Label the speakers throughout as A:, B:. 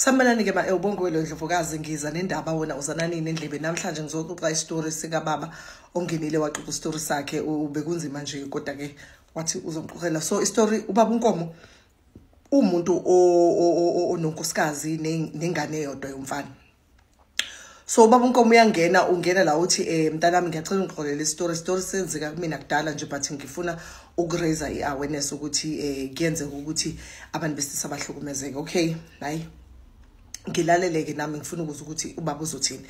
A: Sanibonani ke bae ubongwelo Ndlovukazi ngiza nendaba wona uzananini endlebe namhlanje ngizoxoxa istory sika baba ongenile waxoxa istory sakhe ubekunzima nje kodwa ke wathi uzongixoxela so istory ubaba unkomo umuntu ononkosikazi nengane yodwa yomfana so ubaba unkomo uyangena ungena la uthi um mntanami ngiyacela ungixolele isitori isitori senzeka kumina kudala nje but ngifuna ukuraise i-awareness ukuthi um kuyenzeka ukuthi abantu besilisa bahlukumezeke okay hayi ngilaleleke nami ngifuna ukuza ukuthi ubaba uzothini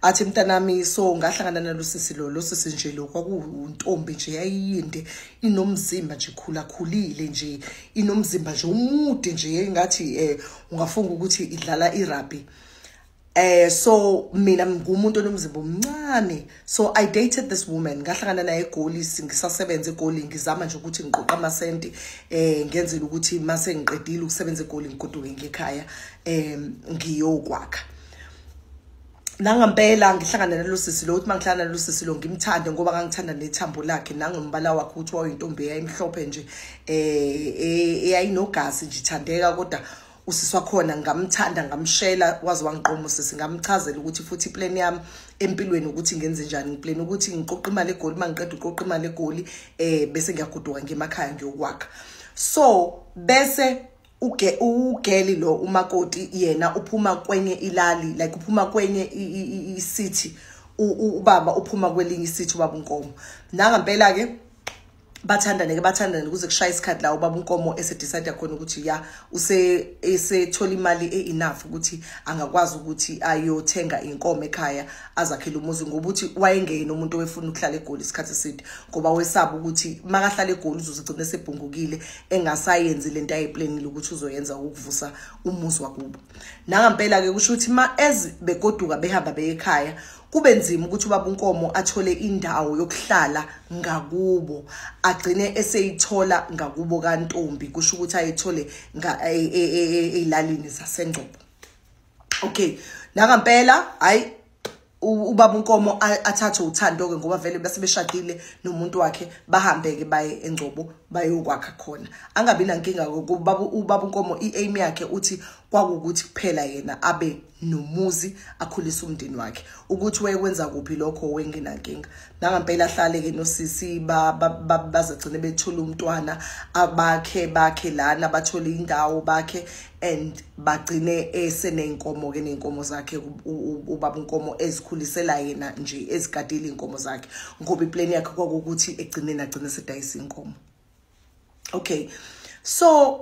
A: athi mntanami so ngahlangana nalo sisi lo lo sisi nje lo kwakuwuntombi nje yayiyinde inomzimba nje khulakhulile nje inomzimba nje umude nje engathi eh ungafunga ukuthi idlala irugby Eh so mina ngumuntu onomzimba omncane so I dated this woman ngahlangana naye eGoli ngisasebenza eGoli ngizama nje ukuthi ngiqoqa amasenti eh ngenzela ukuthi mase ngiqedile ukusebenza eGoli ngigoduke ngekhaya eh ngiyokwakha nangampela ngihlangana nalo sisi lo uthi mangihlangana nalo sisi lo ngimthande ngoba ngangithanda nethambo lakhe nangombala wakhe ukuthi wayintombi eyayimhlophe nje eh, eh eyayinogazi nje ithandeka kodwa usisi wakhona ngamthanda ngamshela waze wangiqoma usisi ngamchazela ukuthi futhi iplan yami empilweni ukuthi ngenze njani ngiplan ukuthi ngiqoqa imali egoli uma ngiqeda uqoqa imali egoli um bese ngiyagoduka ngemakhaya ngiyokwakha so bese uge ugeli lo umakoti yena uphuma kwenye ilali like uphuma kwenye i-city ubaba uphuma kwelinye i-city ubaba unkomo nangampela-ke bathandane ke bathandane kuze kushaya isikhathi la ubaba unkomo esedecide khona ukuthi ya use esethola imali e-enough ukuthi angakwazi ukuthi ayothenga inkomo ekhaya azakhele umuzi ngoba uthi wayengeyeni umuntu owefuna ukuhlala egoli isikhathi eside ngoba wesaba ukuthi makahlala egoli uzozigcina esebhungukile engasayenzi le nto ayeplanile ukuthi uzoyenza ukuvusa umuzi wakubo nangampela-ke kusho ukuthi ma ez begoduka behamba beyekhaya kube nzima ukuthi ubaba uNkomo athole indawo yokuhlala ngakubo agcine eseyithola ngakubo kantombi kusho ukuthi ayithole e, e, e, ezilalini zasengcobo okay nakampela hayi ubaba uNkomo athathe uthando ke ngoba vele bese beshadile nomuntu wakhe bahambe ke baye engcobo bayokwakha khona angabi nankinga ubaba ubaba uNkomo iaim yakhe uthi kwakukuthi kuphela yena abe nomuzi akhulise umndeni wakhe ukuthi wayekwenza kuphi lokho wengenankinga nangampela ahlale-ke nosisi bazagcine bethole umntwana abakhe bakhe lana bathole indawo bakhe and bagcine eseney'nkomo-ke ney'nkomo zakhe ubaba unkomo ezikhulisela yena nje ezigadile iy'nkomo zakhe ngoba ipleni yakhe kwakukuthi egcineni agcine sedayisa iy'nkomo okay so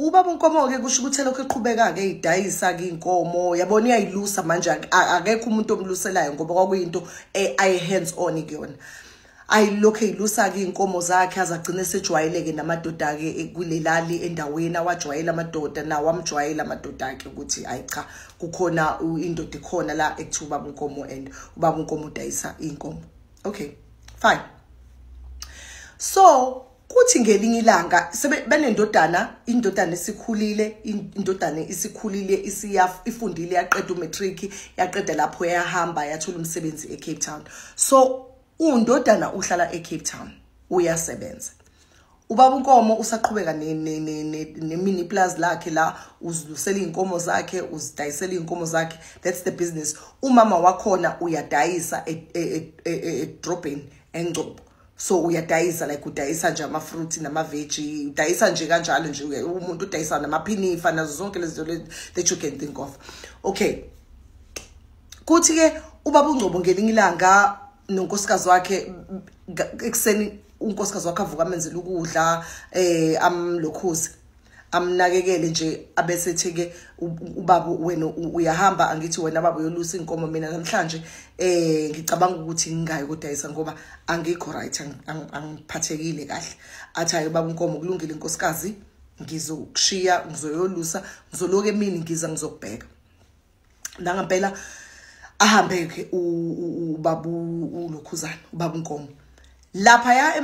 A: ubaba unkomo ke kusho ukuthi lokho eqhubeka ke idayisa ke inkomo yabona iyayilusa manje akekho umuntu omluselayo ngoba kwakuyinto eh, ay hands on kuyona ayilokho eyilusa ke inkomo zakhe azagcine sejwayeleke namadoda ke eh, kulelali endaweni awajwayela amadoda nawo amjwayela amadoda ke ukuthi ayi cha kukhona indoda ikhona la ekuthiwa ubaba unkomo and ubaba unkomo udayisa inkomo okay fine so kuthi ngelinye ilanga benendodana indodana isikhulile indodana isikhulile isiyafundile yaqeda umatric yaqeda lapho yahamba yathola umsebenzi eCape Town so undodana uhlala eCape Town uyasebenza ubaba unkomo usaqhubeka nemini plus lakhe la uzilusela izinkomo zakhe uzidayisela izinkomo zakhe that's the business umama wakhona uyadayisa edrobheni e, e, e, engcobo so uyadayisa like udayisa nje ama fruit nama veggie udayisa nje kanjalo nje umuntu udayisa nama phinifa nazo zonke lezinto that you can think of okay kuthi ke ubaba ungcobo ngelinye ilanga nonkosikazi wakhe ekuseni unkosikazi wakhe avuka amenzela ukudla eh amlokhuze amnakekele nje abese theke ubaba wena uyahamba angithi wena baba uyolusa inkomo mina namhlanje eh ngicabanga ukuthi ngingayi kodayisa ngoba angikho right angiphathekile kahle athi hayi baba inkomo kulungile inkosikazi ngizokushiya ngizoyolusa ngizoloke emini ngiza ngizokubheka nangampela ahambeke ubabu ulokhuzana ubabu nkomo lapha ya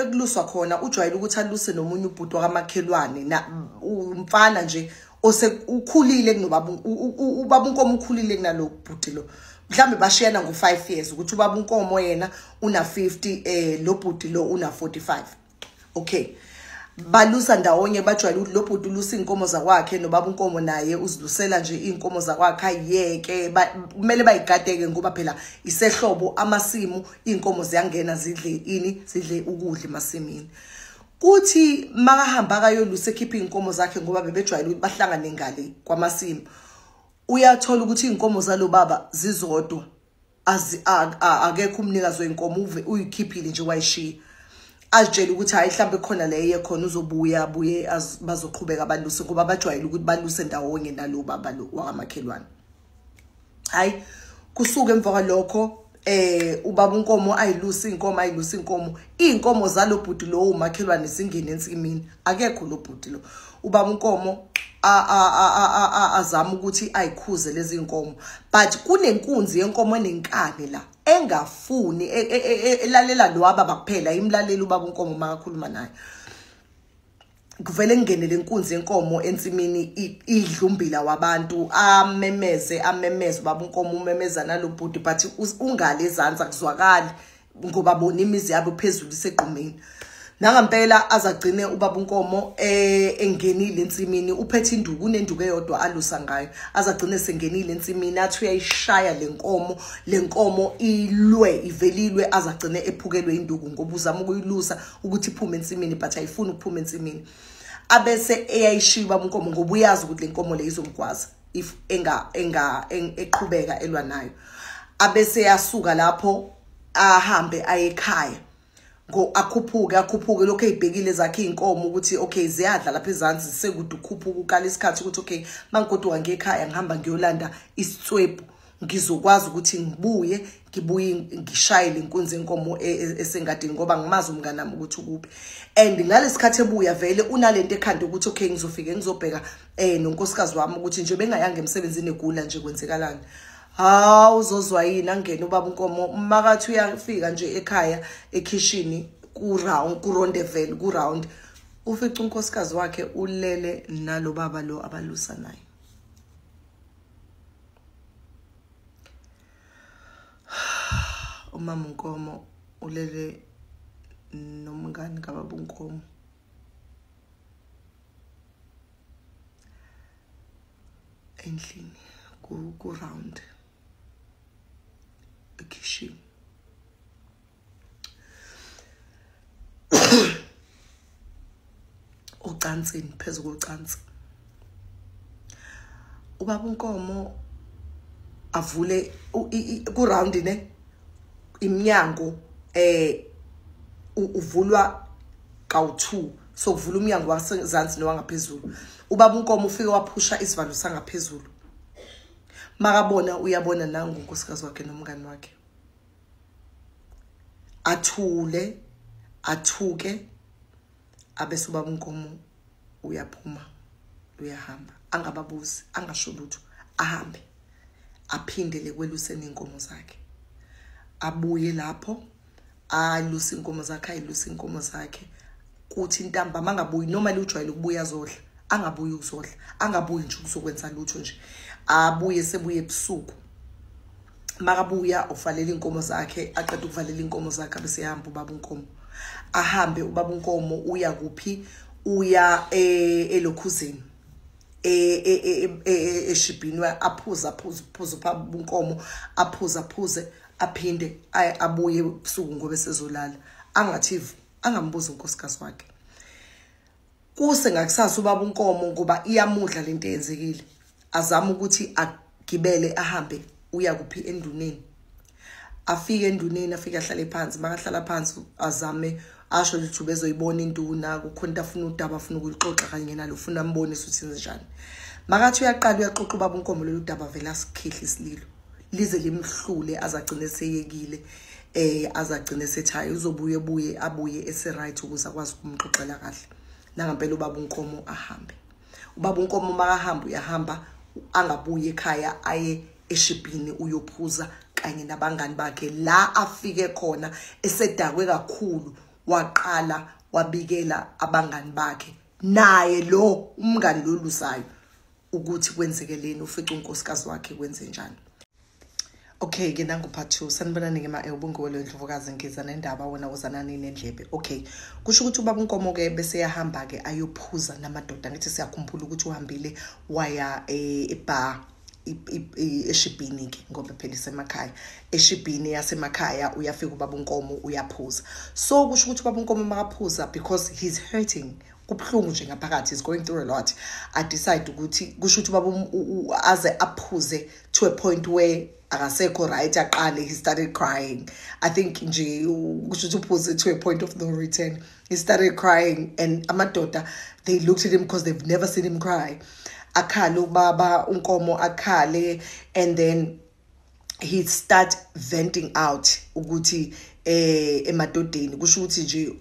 A: ekuluswa khona ujwayele ukuthi aluse nomunye ubhuti wakamakhelwane na umfana nje ose ukhulile kunobaba ubaba unkomo ukhulile kunalo bhuti lo mhlambe bashiyana ngo 5 years ukuthi ubaba unkomo yena una 50 eh lo bhuti lo una 45 okay balusa ndawonye bajwayele ukuthi lo bhuti ulusa iy'nkomo zakwakhe nobaba unkomo naye uzilusela nje iy'nkomo zakwakhe ayiyeke kumele bayigadeke ngoba phela isehlobo amasimu iy'nkomo ziyangena zidle ini zidle ukudla emasimini kuthi makahamba akayolusa ekhiphe iy'nkomo zakhe ngoba bebejwayele ukuthi bahlangane ngale kwamasimu uyathola ukuthi iy'nkomo zalo baba zizodwa akekho umnikazi wenkomo uve uyikhiphile nje wayishiya azitshele ukuthi hayi mhlawumbe khona le eye khona uzobuya abuye bazoqhubeka baluse ngoba bajwayele ukuthi baluse ndawonye nalo baba lo wakamakhelwane hayi kusuke emva kwalokho eh ubaba unkomo ayilusa inkomo ayilusa inkomo inkomo zalobhuti lo umakhelwane zingene ensimini akekho lobhuti lo ubaba unkomo azama ukuthi ayikhuze lezi nkomo but kunenkunzi yenkomo enenkani la engafuni e, e, e, elalela lo ababa kuphela imlalela ubaba unkomo makakhuluma naye kuvele ngene lenkunzi yenkomo ensimini idlumbila wabantu amemeze amemeze ubaba unkomo umemeza nalobhuti but ungale ezansi akuzwakali ngoba bona imizi yabo phezulu isegqumeni nangampela azagcine ubaba unkomo eh, engenile ensimini uphethe induku unenduku eyodwa alusa ngayo azagcine sengenile ensimini athi uyayishaya lenkomo lenkomo ilwe ivelilwe azagcine ephukelwe induku ngoba uzama ukuyilusa ukuthi iphume ensimini but ayifuni ukuphuma ensimini abese eyayishiya ubaba unkomo ngoba uyazi ukuthi lenkomo le izomgwaza if enga enga eqhubeka elwa nayo abese yasuka lapho ahambe ayekhaya ngo akhuphuke akhuphuke lokho ezibhekile zakhe inkomo ukuthi okay ziyadla lapha ezansi sekude ukhuphuka ukala isikhathi ukuthi okay mangigoduka ngekhaya ngihamba ngiyolanda isitswebu ngizokwazi ukuthi ngibuye ngibuye ngishayele inkunzi enkomo e, e, esengadini ngoba ngimazi umngane nami ukuthi ukuphi and ngalesikhathi ebuya vele unalento ekhanda ukuthi okay ngizofike ngizobheka eh nonkosikazi wami ukuthi nje bengayanga emsebenzini egula nje kwenzekalani hawu uzozwa yini angene ubaba unkomo umakathi uyafika nje ekhaya ekhishini ku-round kuronde vele ku-round ufica unkosikazi wakhe ulele nalo baba lo abalusa naye umama unkomo ulele nomngani kababa unkomo endlini ku-round ekhishini ocansini phezu kocansi ubaba unkomo avule ku round ne imnyango eh uvulwa kawu2 so kuvula umnyango wasezansi nowangaphezulu ubaba unkomo ufike waphusha isivalo sangaphezulu makabona uyabona nangu unkosikazi wakhe nomngani wakhe athule athuke abese ubaba unkomo uyaphuma uyahamba angababuzi angasho lutho ahambe aphindele kweluseni inkomo zakhe abuye lapho alusa inkomo zakhe ayilusa inkomo zakhe kuthi intambama angabuyi noma liwujwayele ukubuya zodla angabuyi ukuzodla angabuyi nje ukuzokwenza lutho nje abuye sebuye ebusuku makabuya uvalela inkomo zakhe aqeda ukuvalela inkomo zakhe abese ehamba ubaba unkomo ahambe ubaba unkomo uya kuphi uya e, elokhuzini e, e, eshibhini aphuza aphuza aphuza ubaba unkomo aphuza aphuze aphinde abuye ebusuku ngoba esezolala angathivu angambuzi unkosikazi wakhe kuse ngakusasa ubaba unkomo ngoba iyamudla lento eyenzekile azama ukuthi agibele ahambe uya kuphi enduneni afike enduneni afike ahlale phansi makahlala phansi azame asho ukuthi ubezoyibona induna kukhona into afuna udaba afuna ukuyixoxa kanye nalo ufuna ambonise ukuthi njani makathi uyaqala uyaxoxa ubaba unkomo lolu daba vele asikhihla isililo lize limhlule azagcine seyekile eh azagcine sethaya uzobuye buye abuye eseright ukuze akwazi ukumxoxela kahle nangampela ubaba unkomo ahambe ubaba unkomo makahamba uyahamba angabuye ekhaya aye eshibhini uyophuza kanye nabangani bakhe la afike khona esedakwe kakhulu waqala wabikela abangani bakhe naye lo umngani lolusayo ukuthi kwenzekeleni ufica unkosikazi wakhe kwenze njani okay ke nangu part two sanibonani ke ma-e eh, ubunguwe leyo ndlovukazi ngiza nendaba wena uzanani nendlebe okay kusho ukuthi ubaba unkomo ke bese yahamba ke ayophuza namadoda ngithi siyakhumbula ukuthi uhambile waya eh, ebar e eshibhini ke ngoba phela isemakhaya eshibhini yasemakhaya uyafika ubaba unkomo uyaphuza so kusho ukuthi ubaba unkomo makaphuza because he's hurting kubuhlungu nje ngaphakathi is going through a lot i decide ukuthi kusho ukuthi ubaba aze aphuze to a point where akasekho right aqale he started crying i think nje kusho ukuthi uphuze to a point of no return he started crying and amadoda they looked at him because they've never seen him cry akhale ubaba unkomo akhale and then he start venting out ukuthi eh emadodeni kusho ukuthi nje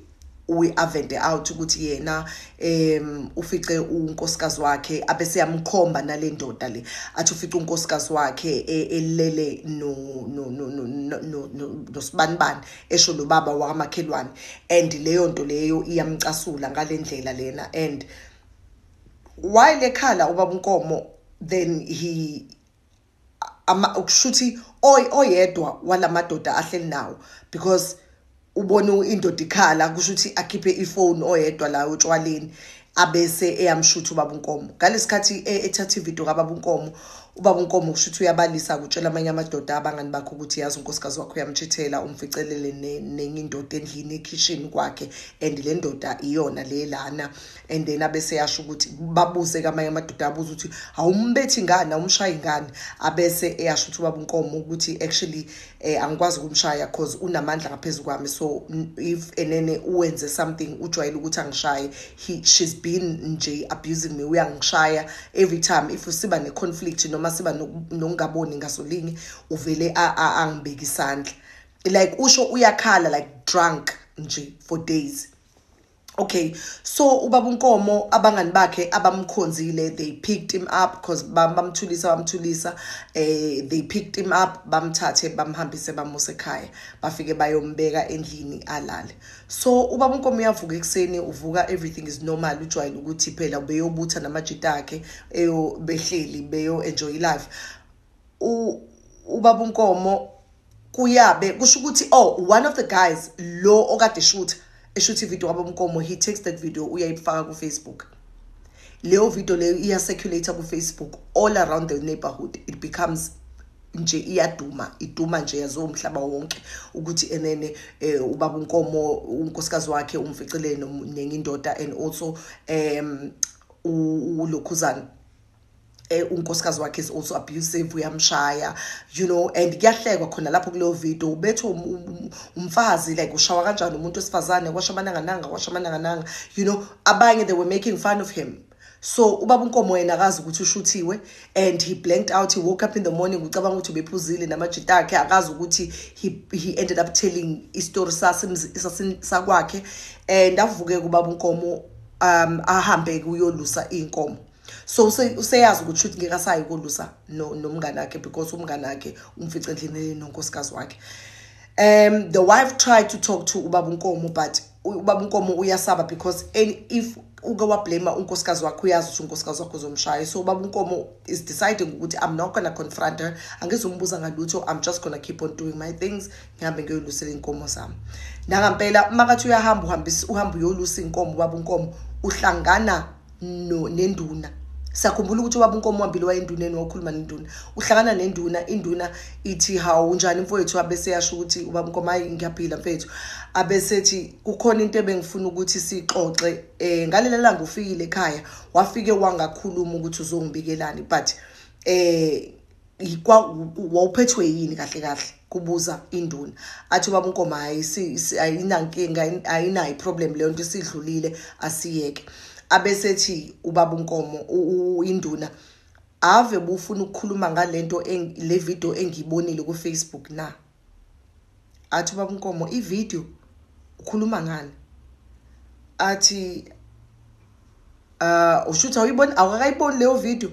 A: we avente out ukuthi yena em ufice unkosikazi wakhe abese yamkhomba nalendoda le athi ufice unkosikazi wakhe e, elele no no no no no nosibanibani esho lo baba wakamakhelwane and leyo nto leyo iyamcasula ngalendlela lena and while ekhala ubaba unkomo then he kushuthi oyedwa walamadoda ahleli nawo because ubona indoda ikhala kusho ukuthi akhiphe ifoni oyedwa la otshwaleni abese eyamshutha ubaba unkomo ngalesikhathi e, ethatha ivideo kababa unkomo ubaba unkomo kusho ukuthi uyabalisa kutshela amanye amadoda abangani bakhe ukuthi yazi unkosikazi wakho uyamtshithela umficelele nenye indoda endlini ekhishini kwakhe and le ndoda iyona le lana and then abeseyasho ukuthi babuze kamanye amadoda abuza ukuthi awumbethi ngani awumshayi ngani abese eyasho ukuthi ubaba unkomo ukuthi actually eh, angikwazi ukumshaya cause unamandla ngaphezu kwami so if enene uwenze something ujwayele ukuthi angishaye he she's been nje abusing me uyangishaya every time if siba ne conflict noma siba nokungaboni ngasolinye uvele angibeki isandla like usho uyakhala like drunk nje for days okay so ubaba unkomo abangani bakhe abamkhonzile they picked him up because bamthulisa bamthulisa eh they picked him up bamthathe bamhambise bamuse ekhaya bafike bayombeka endlini alale so ubaba unkomo uyavuka ekuseni uvuka everything is normal ujwayele ukuthi phela ubeyobutha namajita akhe eyo behleli beyo enjoy life ubaba unkomo kuyabe kusho ukuthi oh one of the guys lo okade shutha eshuthi video wabo mkomo he takes that video uyayifaka ku Facebook leyo video leyo iya circulate ku Facebook all around the neighborhood it becomes nje iyaduma iduma nje yazo umhlaba wonke ukuthi enene eh, ubaba unkomo unkosikazi wakhe umficile nenye indoda and also um ulokhuzana Eh, unkosikazi wakhe is also abusive uyamshaya you know and kuyahlekwa khona lapho kuleyo video ubethwe um, um, um, umfazi like ushawa kanjani umuntu wesifazane washo amanangananga washo amanangananga you know abanye they were making fun of him so ubaba unkomo yena akazi ukuthi ushuthiwe and he blanked out he woke up in the morning ucabanga ukuthi ubephuzile namajita akhe akazi ukuthi he, he ended up telling istory sakwakhe and avuke kubaba unkomo um ahambe kuyolusa iy'nkomo so useyazi ukuthi shuthi ngeke asayi kolusa nomngane wakhe because umngane wakhe umfice endlini nonkosikazi wakhe um the wife tried to talk to ubaba unkomo but ubaba unkomo uyasaba because if uke wablame unkosikazi wakhe uyazi ukuthi unkosikazi wakhe uzomshaya so ubaba unkomo is deciding ukuthi i'm not gonna confront her angizombuza ngalutho i'm just gonna keep on doing my things ngihambe ngiyolusela iy'nkomo zami nangampela uma kathi uyahamba uhamba uyolusa iy'nkomo ubaba unkomo uhlangana no nenduna sakhumbula ukuthi ubaba unkomo wambili wayenduneni wakhuluma nenduna uhlangana nenduna induna ithi hawu unjani mfowethu abese yasho ukuthi ubaba unkomo hayi ngiyaphila mfethu abesethi kukhona into ebengifuna ukuthi sixoxe um eh, ngalela langa ufikile ekhaya wafike wangakhuluma ukuthi uzongibikelani but um wawuphethwe yini kahle kahle kubuza induna athi ubaba unkoma hayi ayinankinga ayinayo problem leyo nto isidlulile asiyeke abesethi ubaba unkomo induna ave bufuna ukukhuluma ngalento le video engiyibonile ku Facebook na athi ubaba unkomo ivideo ukhuluma ngani athi uh ushutha uyibona awukayiboni leyo video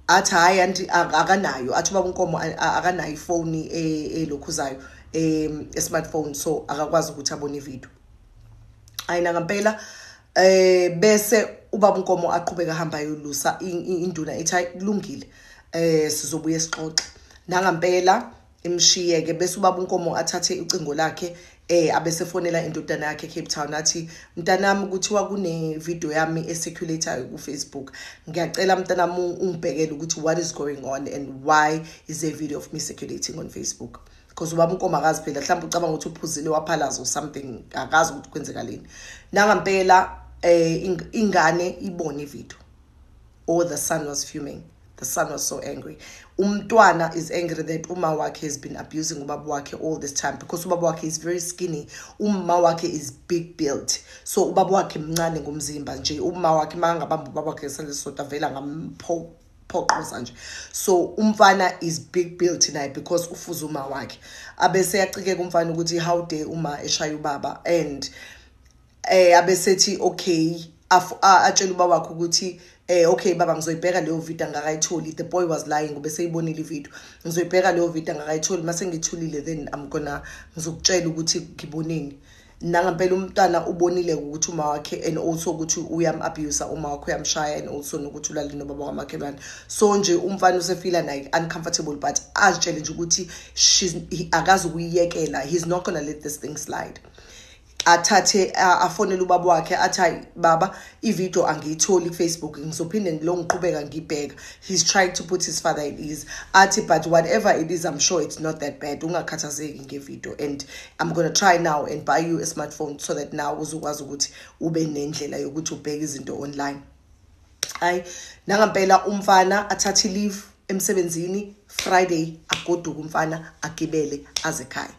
A: athi hayi anti akanayo athi ubaba unkomo akanayo ifoni e, elokhuzayo e, e-smartphone so akakwazi ukuthi abone ivideo ayina ngampela eh bese ubaba uNkomo aqhubeka hamba yolusa induna ethi hayi kulungile eh sizobuye sixoxe nangampela imshiye ke bese ubaba uNkomo athathe icingo lakhe eh abesefonela indodana yakhe Cape Town athi mntanami kuthiwa kune video yami eseculator ku Facebook ngiyacela mntanami ungibhekele ukuthi what is going on and why is a video of me circulating on Facebook because ubaba unkoma akazi phela mhlawumbe ucabanga ukuthi uphuzile waphalaza or something akazi ukuthi kwenzekaleni nangampela um ingane ibone ividiyo or the son was fuming the son was so angry umntwana is angry that uma wakhe has been abusing ubaba wakhe all this time because ubaba wakhe is very skinny umma wakhe is big built so ubaba wakhe mncane ngomzimba nje umma wakhe makangabamba ubaba wakhe ngesandla sisodwa vele angampho phoqoza nje so umfana is big bill tonight because ufuza uma wakhe abese yacikeka umfana ukuthi how day uma eshaya ubaba and eh abesethi okay atshela uba wakhe ukuthi eh okay baba ngizoyibheka leyo video angakayitholi the boy was lying ube seyibonile ivideo ngizoyibheka leyo video angakayitholi mase ngithulile then i'm gonna ngizokutshela ukuthi ngibonini nangampela umntana ubonile ukuthi uma wakhe and also ukuthi uyam-abusa uma wakhe uyamshaya and also nokuthi ulale nobaba kwamakhelwane so nje umfana usefila naye uncomfortable but azitshele nje ukuthi akazi ukuyiyekela he's not gonna let this thing slide athathe afonele ubaba wakhe athi hayi baba ivideo angiyitholi kufacebook ngizophinde ngilo ngiqhubeka ngibheka he's trying to put his father at ease athi but whatever it is i'm sure it's not that bad ungakhathazeki ngevideo and i'm gonna try now and buy you a smartphone so that now uzokwazi ukuthi ube nendlela yokuthi ubheke izinto online hayi nangampela umfana athathe leave emsebenzini friday agoduke umfana agibele azekhaya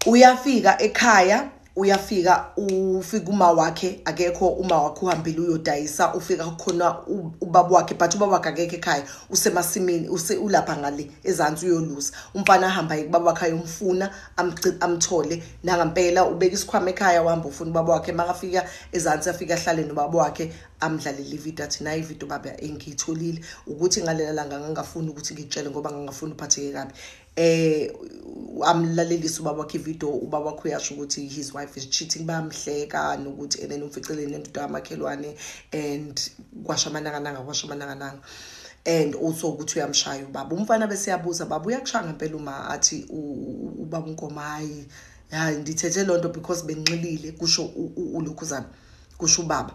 A: uyafika ekhaya uyafika ufika uma wakhe akekho uma wakhe uhambile uyodayisa ufika khona ubaba wakhe but ubaba wakhe akekho ekhaya usemasimini use ulapha ngale ezantsi uyolusa umfana ahamba yike baba wakhe ayomfuna amthole nangampela ubeka isikhwama ekhaya uhamba ufuna ubaba wakhe makafika ezantsi afika ahlale nobaba wakhe amdlalele ividiyo athi nayi ividiyo baba engiyitholile ukuthi ngalela langa ngangafuni ukuthi ngitshele ngoba ngangafuni uphatheke kabi eh amlalelisa ubaba wakhe video ubaba wakhe uyasho ukuthi his wife is cheating bayamhleka nokuthi and then umficeleni nendoda yamakhelwane and kwasha amanangananga kwasha amanangananga and also ukuthi uyamshaya ubaba umfana bese yabuza baba uyakushaya ngempela uma athi ubaba unkomo hayi hayi ndithethe loo nto because benxilile kusho ulokhuzana kusho ubaba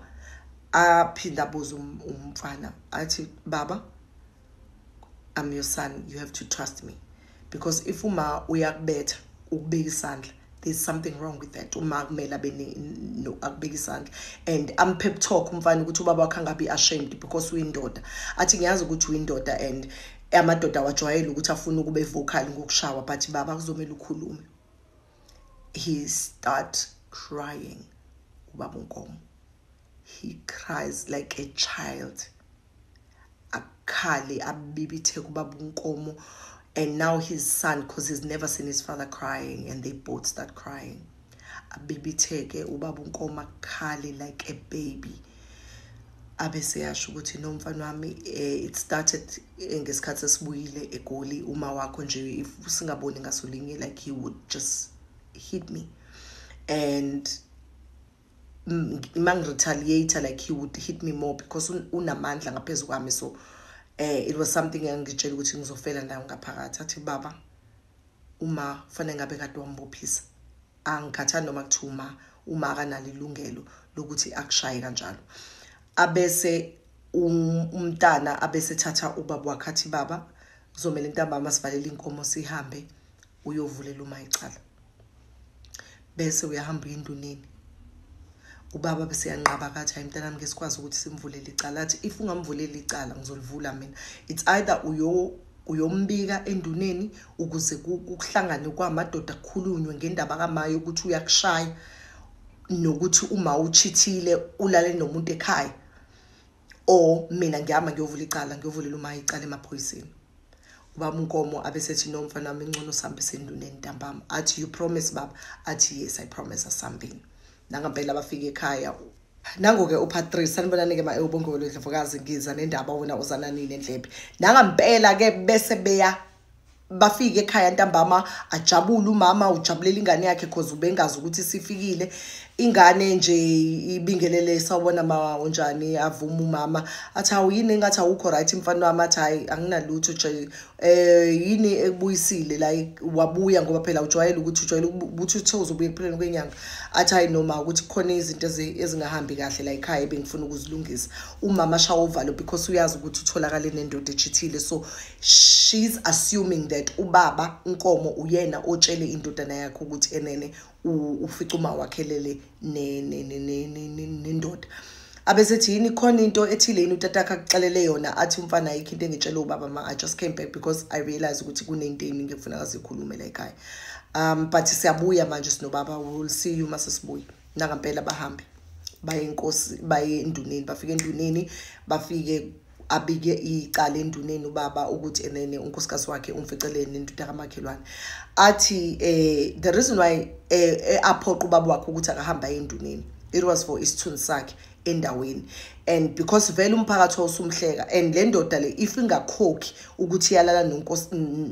A: aphinde abuze um, umfana athi baba I'm your son you have to trust me because if uma uyakubetha ukubeka isandla there's something wrong with that uma kumele abe no akubeka isandla and am pep talk umfana ukuthi ubaba wakhe angabi ashamed because uyindoda athi ngiyazi ukuthi uyindoda and amadoda awajwayele ukuthi afuna ukube vocal ngokushawa but baba kuzomela ukhulume he start crying ubaba unkomo he cries like a child akhale abibitheke ubaba unkomo and now his son because he's never seen his father crying and they both start crying abibitheke ubaba unkomo akhale like a baby abe seyasho ukuthi no mfana wami eh, it started eh, ngesikhathi esibuyile egoli uma wakho nje if singaboni ngasolinye like he would just hit me and mangiretaliate like he would hit me more because unamandla ngaphezu kwami so eh it was something engitshela ukuthi ngizofela nayo ngaphakathi athi baba uma fanele ngabe kade wambophisa angikhathani noma kuthiwa uma uma akanalo ilungelo lokuthi akushaye kanjalo abese um, umntana abese thatha ubaba wakhe athi baba kuzomele intambama sivalele inkomo sihambe uyovulela uma icala bese uyahamba uyinduneni ubaba beseyanqaba kathi hayi mntanami ke sikwazi ukuthi simvulele icala athi if ungamvuleli icala ngizolivula mina it's either uyo uyombika enduneni ukuze kuhlangane kwamadoda kukhulunywe ngendaba kamaye ukuthi uyakushaya nokuthi uma uchithile ulale nomuntu ekhaya or mina ngiyama ngiyovula icala ngiyovulela uma icala emaphoyiseni ubaba unkomo abesethi no mfana wami ingcono sambe senduneni ntambama athi you promise baba athi yes i promise asambeni nangampela bafika ekhaya nango-ke upatrice sanibonani-ke ma ewubongowelo ndlovukazi ngiza nendaba wena uzana nini endlebe nangampela-ke bese beya bafike ekhaya ntambama ajabule umama ujabulela ingane yakhe cause ubengazi ukuthi sifikile ingane nje ibingelele sawubona ma unjani avuma umama athi hawu yini engathi awukho right mfana wami athi hayi anginalutho nje eh yini ekubuyisile la wabuya ngoba phela ujwayele ukuthi ujwayele ukuthi uthe uzobuya ekupheleni kwenyanga athi hayi noma ukuthi kukhona izinto ezingahambi kahle la ekhaya ebengifuna ukuzilungisa umama shawo uvalo because uyazi ukuthi utholakale nendoda echithile so she's assuming that ubaba unkomo uyena otshele indodana yakhe ukuthi enene ufica uma wakhelele nendoda abesethi yini khona into ethile yini utatakhe akuxelele yona athi umfana ayikho into engitshele ubaba ma i just came back because i realize ukuthi kunento eningi ekufuna kazikhulume la ekhaya um but siyabuya manje sinobaba will see you uma sesibuya nangampela bahambe baye enkosi baye enduneni bafike enduneni bafike abike icala enduneni ubaba ukuthi enene unkosikazi wakhe umficeleni nendoda kamakhelwane athi um the reason why eh, eh, aphoqa ubaba wakhe ukuthi akahamba enduneni it was for isithunzi sakhe endaweni and because vele umphakathi wawusumhleka and le ndoda le if ingakhokhi ukuthi iyalala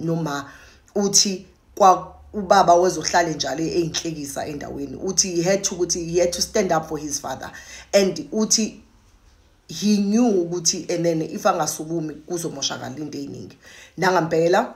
A: noma uthi kwa ubaba wezohlale njalo eyinhlekisa endaweni uthi he had to ukuthi he had to stand up for his father and uthi he knew ukuthi enene if angasukumi kuzomoshakala into eyiningi nangampela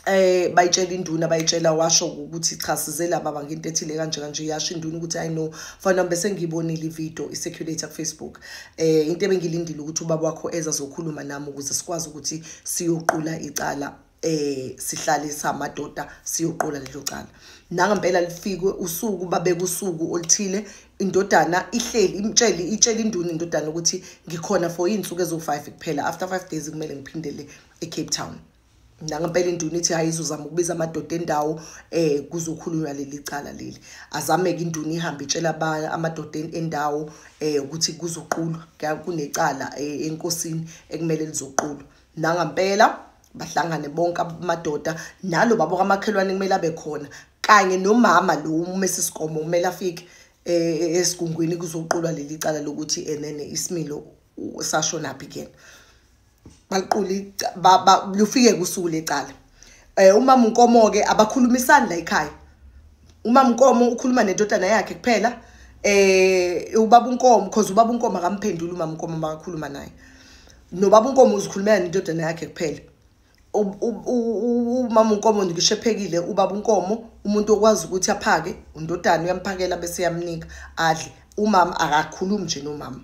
A: eh bayitshela induna bayitshela washo ukuthi cha size laba baba ngento ethile kanje kanje yasho induna ukuthi i know fana bese ngiyibonile ivideo isecurate ku Facebook eh into ebengilindile ukuthi ubaba wakho eza zokhuluma nami ukuze sikwazi ukuthi siyoqula icala eh sihlalisa amadoda siyoqola lelo cala nangempela lifikwe usuku babekusuku olithile indodana ihleli imtshele itshela induna indodana ukuthi ngikhona for izinsuku ezo5 kuphela after 5 days kumele ngiphindele eCape Town nangempela induna ithi hayi izozama ukubiza amadoda endawo eh kuzokhulunywa leli cala leli azameke induna ihambe itshela abanye amadoda endawo eh ukuthi kuzoqulwa kunecala eh, enkosini ekumele lizoqulwa nangampela bahlangane bonke amadoda nalo babo kamakhelwane kumele abe khona kanye nomama lo umesi sikomo kumele afike eh, esigungwini kuzoqulwa leli cala lokuthi enene isimilo sashonaphi kuyena baliquli lufike kusuku lecala eh umama unkomo ke abakhulumisani la ekhaya umama unkomo ukhuluma nendodana yakhe kuphela eh ubaba unkomo because ubaba unkomo akamphenduli umama unkomo makakhuluma naye nobaba unkomo uzikhulumela nendodana yakhe kuphela umama unkomo ngisho ephekile ubaba unkomo umuntu okwazi ukuthi aphake undodana uyamphakela bese yamnika adle umama akakhulumi nje nomama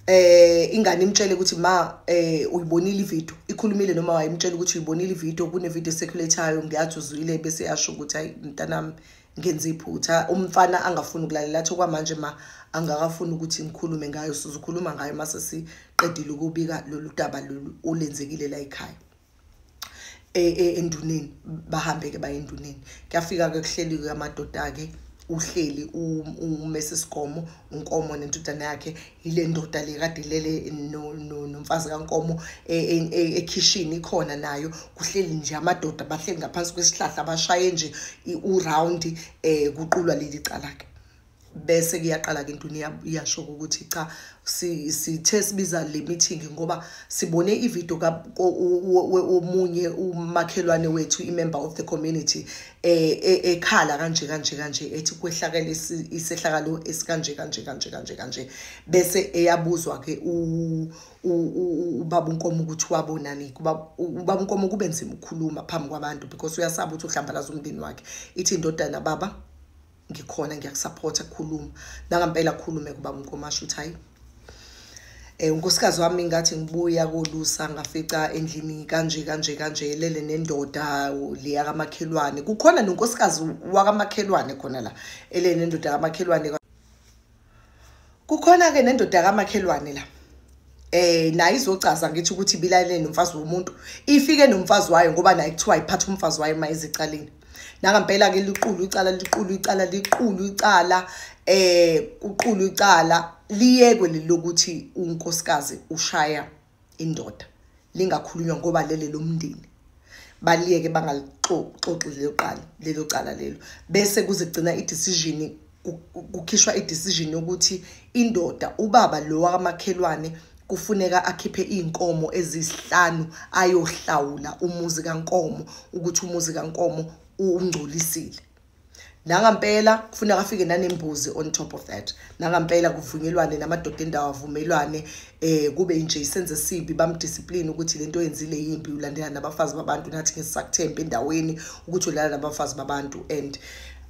A: eh ingane imtshele ukuthi ma eh uyibonile ivideo ikhulumile noma wayimtshela ukuthi uyibonile ivideo kune video circulatayo ngiyathi uzwile bese yasho ukuthi hayi mntanami ngenze iphutha umfana angafuni ukulalela athi kwamanje ma angakafuni ukuthi ngikhulume ngayo sizokhuluma ngayo mase siqedile ukubika lolu daba lolu olenzekile la ekhaya e, e, enduneni bahambe-ke baye enduneni kuyafika-ke kuhleliwe amadoda-ke uhleli umesi sigomo unkomo nentudana yakhe yile ndoda le kade ilele nomfazi kankomo e, ekhishini ikhona nayo kuhleli nje amadoda bahleli ngaphansi kwesihlahla bashaye nje uround um kuqulwa leli cala-ke bese kuyaqala-ke into iyasho-ke ukuthi cha sithe sibiza le meeting ngoba sibone ividiyo omunye umakhelwane wethu i-member of the community eh, eh, ekhala kanje kanje kanje ethi kwehlakele isehlakalo esikanje kanje kanje kanje kanje bese eyabuzwa-ke ubaba unkomo ukuthi wabonani ubaba unkomo kube nzima ukukhuluma phambi kwabantu because uyasaba ukuthi uhlambalaza umndeni wakhe ithi indodana baba ngikhona ngiyakusupport khuluma nangampela khulume kuba umkomasho uthi hayi eh unkosikazi wami ngathi ngibuya kolusa ngafica endlini kanje kanje kanje lele nendoda le yakamakhelwane kukhona nonkosikazi wakamakhelwane khona la elene nendoda yakamakhelwane kukhona ke nendoda kamakhelwane la eh naye izocaza ngithi ukuthi bilalele nomfazi womuntu ifike nomfazi wayo ngoba naye kuthiwa iphatha umfazi wayo uma ezicaleni nangempela ke liqulu icala liqulu icala liqulu icala eh uqulu icala liyekwe lilokuthi unkosikazi ushaya indoda lingakhulunywa ngoba lele lomndeni baliyeke bangalixoxi lelo qala lelo cala lelo bese kuzigcina i-decision kukhishwa i-decision yokuthi indoda ubaba lo wakamakhelwane kufuneka akhiphe iy'nkomo eziyisihlanu ayohlawula umuzi kankomo ukuthi umuzi kankomo ungcolisile nangampela kufuneka afike nanembuzi on top of that nangampela kuvunyelwane namadoda endawo avumelwane eh kube nje isenze esibi bamdiscipline ukuthi lento yenzile yimbi ulandela nabafazi babantu nathi ngesakuthemba endaweni ukuthi ulala nabafazi babantu and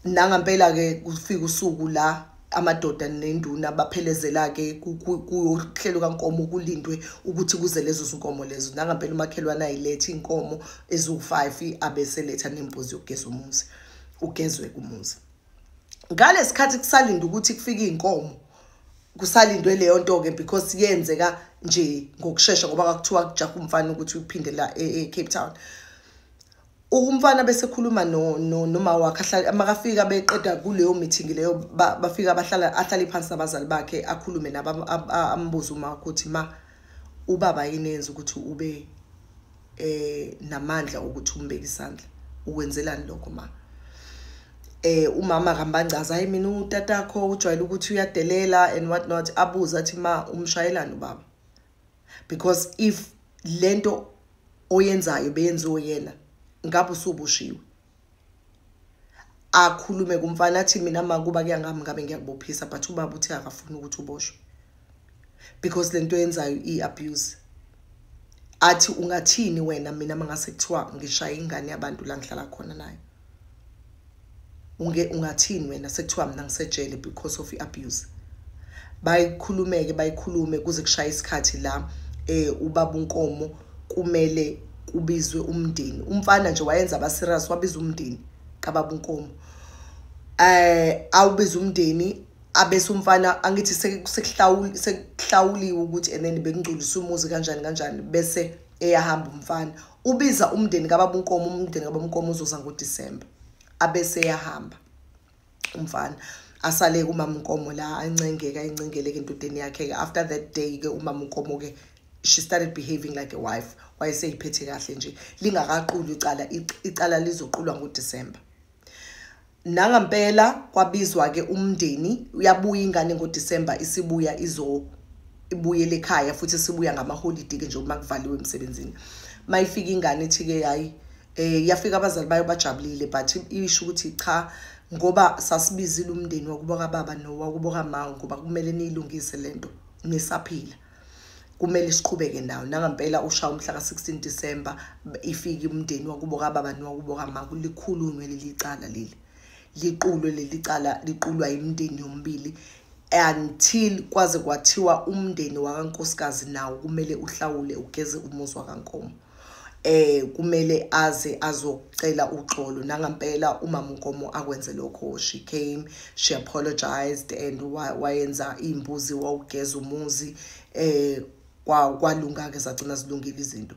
A: nangampela ke kufika usuku la amadoda nenduna baphelezela-ke kuhlelo kankomo kulindwe ukuthi kuze lezo zinkomo lezo nangampela umakhelwane ayilethe iy'nkomo eziwu-five abeseletha nembuzi yokugeza umuzi ugezwe kumuzi ngale sikhathi kusalinde ukuthi kufike iy'nkomo kusalindwe leyo nto-ke because yenzeka nje ngokushesha ngoba kakuthiwa kujaha umfana ukuthi uphindela e-cape e-, town umfana bese khuluma no no noma wakhe ahlala makafika beqeda kuleyo meeting leyo bafika abahlala ahlale phansi nabazali bakhe akhulume naba ambuza uma ukuthi ma ubaba yinenza ukuthi ube eh namandla ukuthi umbeke isandla ukwenzelani lokho ma eh umama kambangaza hayi mina utatakho ujwayele ukuthi uyadelela and what not abuza athi ma umshayelani ubaba because if lento oyenzayo beyenziwe yena ngabe usubushiwe akhulume kumfana athi mina makuba kuyangami ngabe ngiyakubophisa but ubaba uthi akafuni ukuthi uboshwe because lento yenzayo i-abuse athi ungathini wena mina mangase kuthiwa ngishaya ingane yabantu la ngihlala khona nayo unge ungathini wena sekuthiwa mina ngisejele because of i-abuse bayikhulumeke bayikhulume kuze kushaye isikhathi la eh ubaba unkomo kumele kubizwe umndeni umfana nje wayenza abaserious wabiza umndeni kababa unkomo eh awubiza umndeni abese umfana angithi sekuhlawuli sekuhlawuliwe ukuthi and then bekungcolisa umuzi kanjani kanjani bese eyahamba umfana ubiza umndeni kababa unkomo umndeni kababa unkomo uzoza ngodisemba abese yahamba umfana asale kumama unkomo la ancengeka encengeleke endodeni yakhe-ke after that day-ke umama unkomo-ke she started behaving like a wife wayeseyiphethe kahle nje lingakaquli icala icala lizoqulwa ngodisemba nangampela kwabizwa-ke umndeni uyabuya ingane ngodisemba isibuya izo ibuyele ekhaya futhi isibuya ngamaholidi-ke nje uma kuvaliwe emsebenzini uma ifika ingane ethi-ke hhayi um yafika abazali bayo bajabulile but isho ukuthi cha ngoba sasibizile umndeni wakubo kababa nowakubo kama ngoba kumele niyilungise le nto nisaphila kumele siqhubeke nawo nangampela ushaya umhla ka-16 December ifike umndeni wakubo kababa nowakubo kamaka likhulunywe leli cala leli liqulwe leli cala liqulwa imindeni yombili until kwaze kwathiwa umndeni wakankosikazi nawo kumele uhlawule ugeze umuzi wakankomo eh kumele aze azocela uxolo nangampela umama uNkomo akwenze lokho she came she apologized and wayenza imbuzi wawugeza umuzi eh kwalunga ke sagcina zilungile izinto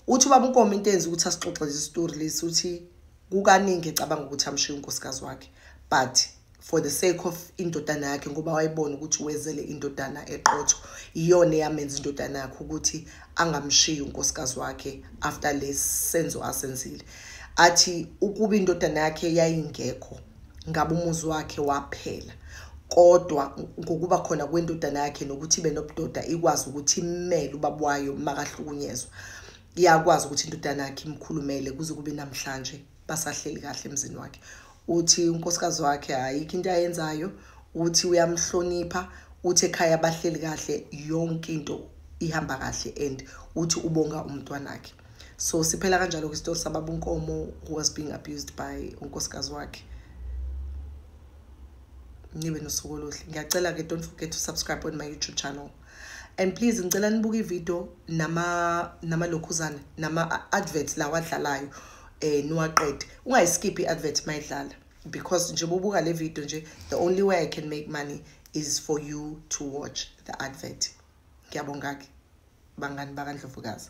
A: uthi ubaba uNkomo into enza ukuthi asixoxe lezi story lesi uthi kukaningi ecabanga ukuthi amshiya unkosikazi wakhe but for the sake of indodana yakhe ngoba wayibona ukuthi wezele indodana eqotho iyona eyamenza indodana yakhe ukuthi angamshiyi unkosikazi wakhe after lesi senzo asenzile athi ukuba indodana yakhe yayingekho ngabe umuzi wakhe waphela kodwa ngokuba khona kwendodana yakhe nokuthi ibe nobudoda ikwazi ukuthi imele ubaba wayo makahlukunyezwa iyakwazi ukuthi indodana yakhe imkhulumele kuze kube namhlanje basahleli kahle emzini wakhe uthi unkosikazi wakhe ayikho into ayenzayo uthi uyamhlonipha uthi ekhaya bahleli kahle yonke into ihamba kahle and uthi ubonga umntwana wakhe so siphela kanjalo ke isitori sababa unkomo who was being abused by unkosikazi wakhe nibe nosuku oluhle ngiyacela ke don't forget to subscribe on my youtube channel and please ngicela nibuke ivideo nama namalokhuzana nama adverts lawa adlalayo eh niwaqede ungayiskip iadvert mayidlala because nje bobuka le video nje the only way i can make money is for you to watch the advert ngiyabonga ke bangani bakandlovukazi